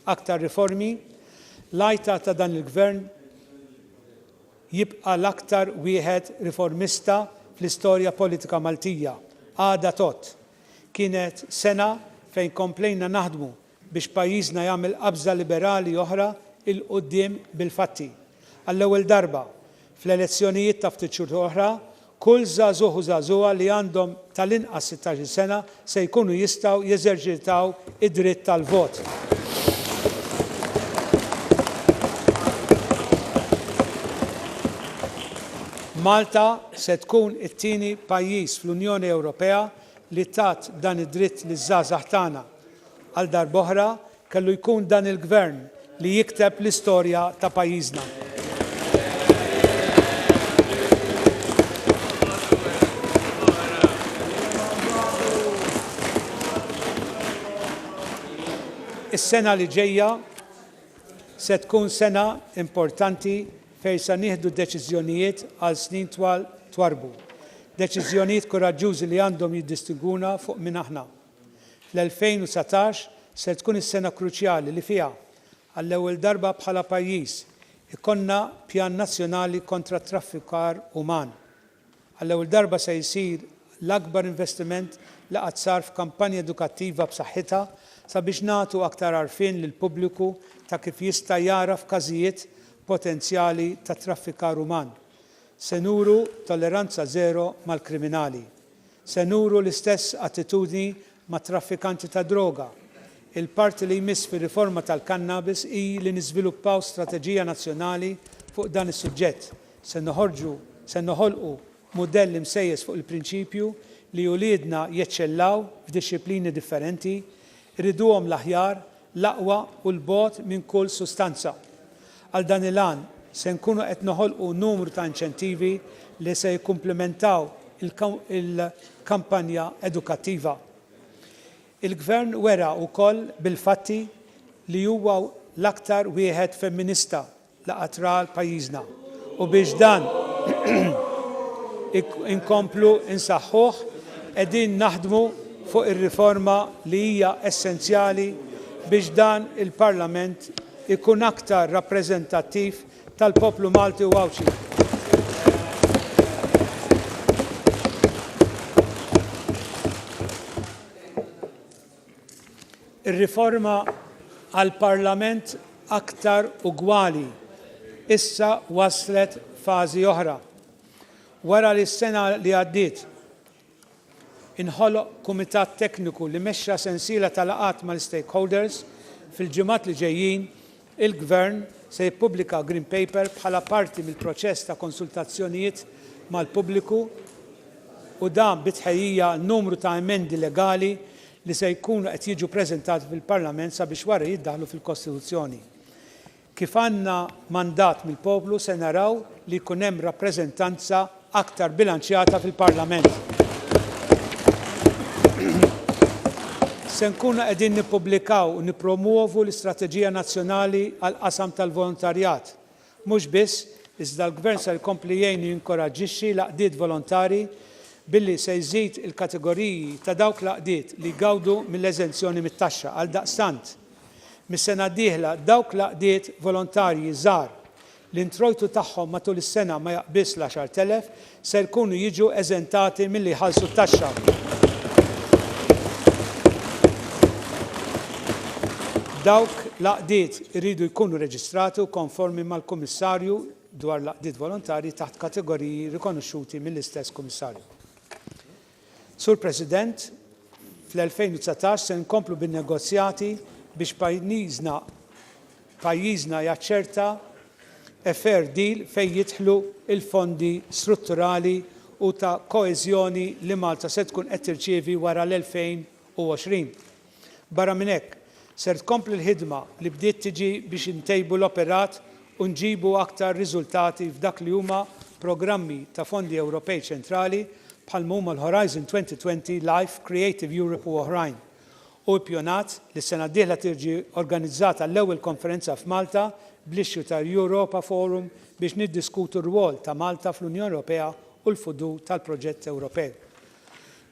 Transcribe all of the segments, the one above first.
aktar riformi, l-għajta ta' dan il-Gvern jibqa' l-aktar wieħed riformista fl-istorja politika Maltija. Għada tgħodd. Kienet sena fejn komplejna naħdmu biex pajjiżna jagħmel qabża liberali oħra 'l quddiem bil-fatti. Għall-ewwel darba, fl-elezzjonijiet ta' ftit xhur oħra, kull żagħżugħ u żagħżugħa li għandhom tal-inqas sittax-il sena se jkunu jistgħu jeżerċitaw id-dritt tal-vot. Malta se tkun it-tieni pajjiż fl-Unjoni Ewropea li tat dan id-dritt liż-żgħażagħ tagħna Għal darb'oħra kellu jkun dan il-Gvern li jikteb l-istorja ta' pajjiżna. Is-sena li ġejja se tkun sena importanti fejn se nieħdu deċiżjonijiet għal snin twal twarrbu. Deċiżjonijiet kuraġġużi li għandhom jiddistingwuna fuq min aħna. L-2019 ser tkun is-sena kruċjali li fiha, għall-ewwel darba bħala pajjiż, ikollna Pjan Nazzjonali kontra t-Traffikar Uman. Għall-ewwel darba se jsir l-akbar investiment li qatt sar f'kampanja edukattiva b'saħħitha sabiex nagħtu aktar għarfien lill-pubbliku ta' kif jista' jagħraf każijiet potenzjali ta' traffikar uman. Se nuru tolleranza żero mal-kriminali. Se nuru l-istess attitudni mat-traffikanti tad-droga. Il-parti li jmiss fir-riforma tal-kannabis hi li niżviluppaw strateġija nazzjonali fuq dan is-suġġett. Se noħorġu, se noħolqu, mudell imsejjes fuq il-prinċipju li uliedna jeċċellaw f'dixxiplini differenti, iriduhom l-aħjar, l-aqwa u 'l bogħod minn kull sustanza. Għal dan il-għan, se nkunu qed noħolqu numru ta' inċentivi li se jikkumplimentaw il-kampanja edukattiva. Il-Gvern wera wkoll bil-fatti li huwa l-aktar wieħed femminista l-qatra għal pajjiżna u biex dan inkomplu nsaħħuh qegħdin naħdmu fuq ir-riforma li hija essenzjali biex dan il-Parlament ikun aktar rappreżentattiv tal-poplu Malti u Għawdxi. Ir-riforma għal Parlament aktar ugwali issa waslet fażi oħra. Wara li s-sena li għaddiet inħoloq kumitat tekniku li mexxa sensiela ta' laqgħat mal-istakeholders, fil-ġimgħat li ġejjin Il-Gvern se jippubblika Green Paper bħala parti mill-proċess ta' konsultazzjonijiet mal-pubbliku u dan bi tħejjija għal numru ta' emendi legali li se jkunu qed jiġu preżentati fil-Parlament sabiex wara jiddaħħlu fil-Kostituzzjoni. Kif għandna mandat mill-poplu se naraw li jkun hemm rappreżentanza aktar bilanċjata fil-Parlament. Se nkunu qegħdin nippubblikaw u nippromwovu l-Istrateġija Nazzjonali għall-Qasam tal-Volontarjat. Mhux biss, iżda l-Gvern ser ikompli jgħin u jinkoraġġixxi l-għaqdiet volontari billi se jżid il-kategoriji ta' dawk l-għaqdiet li jgawdu mill-eżenzjoni mit-taxxa. Għaldaqstant, mis-sena d-dieħla dawk l-għaqdiet volontarji żgħar l-introjtu tagħhom matul is-sena ma jaqbiżx l-għaxart elef, ser ikunu jiġu eżentati milli jħallsu t-taxxa. Dawk l-għaqdiet iridu jkunu reġistrati u konformi mal-Kummissarju dwar l-Għaqdiet Volontarji taħt kategoriji rikonoxxuti mill-istess Kummissarju. Sur President, fl-2019 se nkomplu bin-negozjati biex pajniżna pajjiżna jaċċerta a fair deal fejn jidħlu l-fondi strutturali u ta' koeżjoni li Malta se tkun qed tirċievi wara l-2020. Barra minn hekk, ser tkompli l-ħidma li bdiet tiġi biex intejbu l-operat u nġibu aktar riżultati f'dak li huma programmi ta' fondi Ewropej ċentrali bħal ma huma l-Horizon 2020, Life, Creative Europe u oħrajn. Hu ippjonat li s-sena d-dieħla tiġi organizzata l-ewwel konferenza f'Malta bl-issue ta' Europa Forum biex niddiskutu r-rwol ta' Malta fl-Unjoni Ewropea u l-futur tal-proġett Ewropew.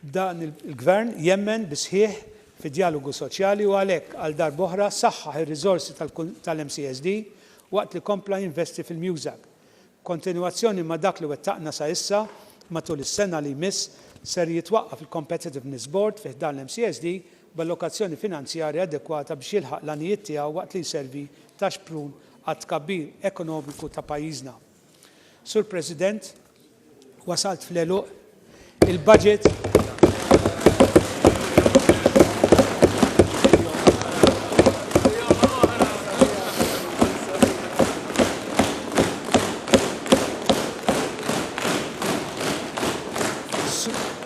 Dan il-Gvern jemmen bis-sħiħ fid-djalogu soċjali u għalhekk għal darba oħra saħħaħ ir-riżorsi tal-MCSD waqt li kompla jinvesti fil-MUSAG. B'kontinwazzjoni ma' dak li wettaqna sa issa, matul is-sena li jmiss ser jitwaqqaf il-Competitiveness Board fi ħdan l-MCSD b'allokazzjoni finanzjarja adekwata biex jilħaq l-għanijiet tiegħu waqt li jservi ta' xprun għat-tkabbir ekonomiku ta' pajjiżna. Sur President, wasalt fl-għeluq il-budget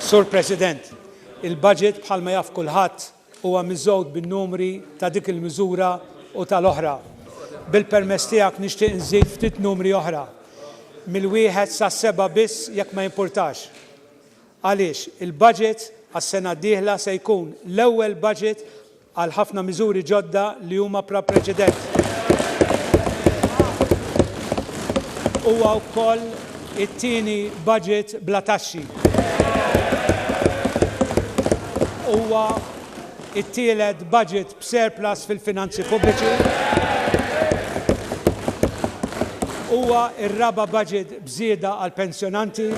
Sur President, il-budget bħalma jaf kulħadd Huwa miżgħud bin-numri ta' dik il-miżura u tal-oħra. Bil-permess tiegħek nixtieq nżid ftit numri oħra, mill-wieħed sas-seba' biss jekk ma jimpurtax. Għaliex, il-budget għas-sena d-dieħla se jkun l-ewwel budget għal ħafna miżuri ġodda li huma bla preċedent. Huwa wkoll. It-tieni budget bla taxxi. Huwa t-tielet budget b'surplus fil-finanzi pubbliċi. Huwa r-raba' budget b'żieda għall-pensjonanti.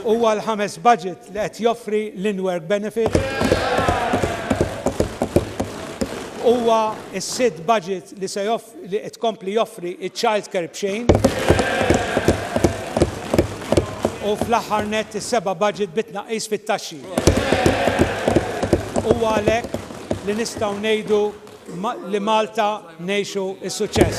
Huwa l-ħames budget li qed joffri l-in-work benefit. Huwa s-sitt budget li se joffri li qed tkompli joffri ċ-child care b'xejn u fl-aħħar nett is-seba' budget bi tnaqqis fit-taxxi. Huwa għalhekk li nistgħu ngħidu li Malta ngħixu s-suċċess.